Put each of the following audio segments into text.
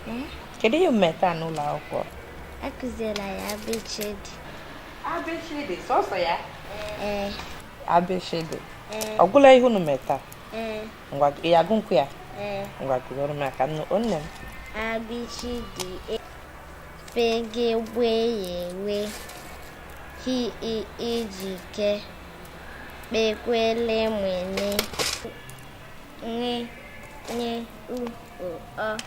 Hmm? Kedu ihe i mee taa n'ụlọ akwụkwọ? Akụziela anyị A B CH D. A B CH D, sọsọ ya? Ee. A B CH D. Ee. Ọ gwụla ihe unu mee taa? Ee. Ngwa ị ya-agụnwu ya? Ee. Ngwa gụọrọ m ka m nụ nne m. A B CH D E F G GB GH GW H I Ị J K KP KW L M N. NW, NY, O, Ọ.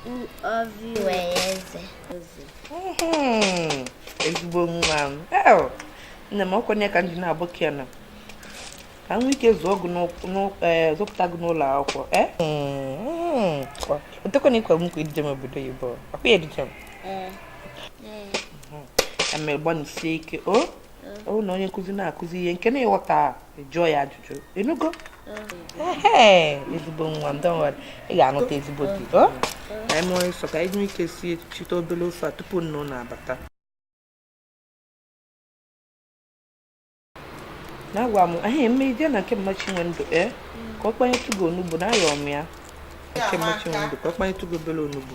U, Ụ, V, W, Y, Z. Ezigbo nwa m. Nne m ọ kwa n'ihi ya ka m ji na-abụ kena. Ka m nwee ike zụọ gị eh, zụpụta gị n'ụlọ akwụkwọ. Eh? O tekwana i kwe m nkwa iduje m obodo oyibo. Ọ kwa ị ya-eduje m. Eme eh. gbanisie ike. O? Oh. ọ bụrụ na onye nkụzi na-akụzi ihe nke na ị ghọta jụọ ya ajụjụ ị nụgo ezigbo nwa m don't worry ị ga-anụta ezigbo di ka anyị mee ọsịsọ ka anyị nwee ike sichite obere ofe a tupu nna abata na-agwa m ahụ mee jee na nke mama Chinwendu ee ka ọ kpanyetụ gị onugbu na ayọ m ya nke mama Chinwendu ka ọ kpanyetụ gị obere onugbu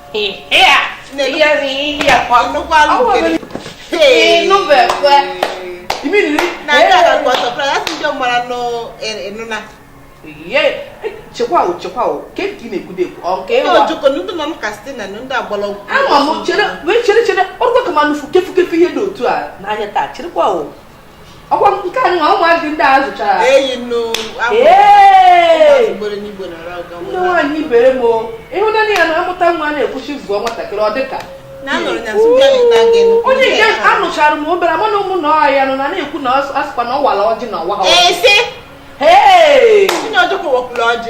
chekwa o chekwa o ke ka ị na-ekwude ekwu ọ nke ịwa ojoko ndị nọ ka site na ndị agbala ọgwụ ama m chere wee chere chere ọrụ ka ma nufu kefu kefu ihe dị otu a n'anya taa cherekwa o ọkwa nke anụ ụmụazị ndị a zụchara eyi nnu ndị nwaanyị ibe m ịhụnanya ya na amụta nwa na-ekwuchi zụọ nwatakịrị ọ dịka onye nke a nụchara m obere mana ụmụnna ha nọ na-ekwu na asịkwa na ọ wara ọjị na ọwa ha ọjị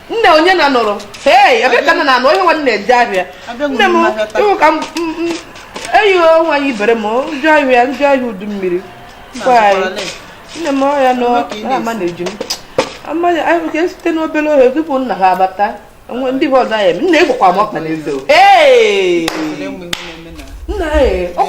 nne onye na nọrọ ee ebe ka nna na-anọ ihe nwa nna eje ahịa nne m ịhụ ka eyi nwaanyị ibe m njọ ahịa njọ ahịa udu mmiri nne m ọhịa nọ ama na eji m amaghị anyị ka e sitenụ obere ohe tupu nna ha abata onwe ndị bụ ọzọ ya eme nna ịgbakwa m ọkpa n'eze ee nna ee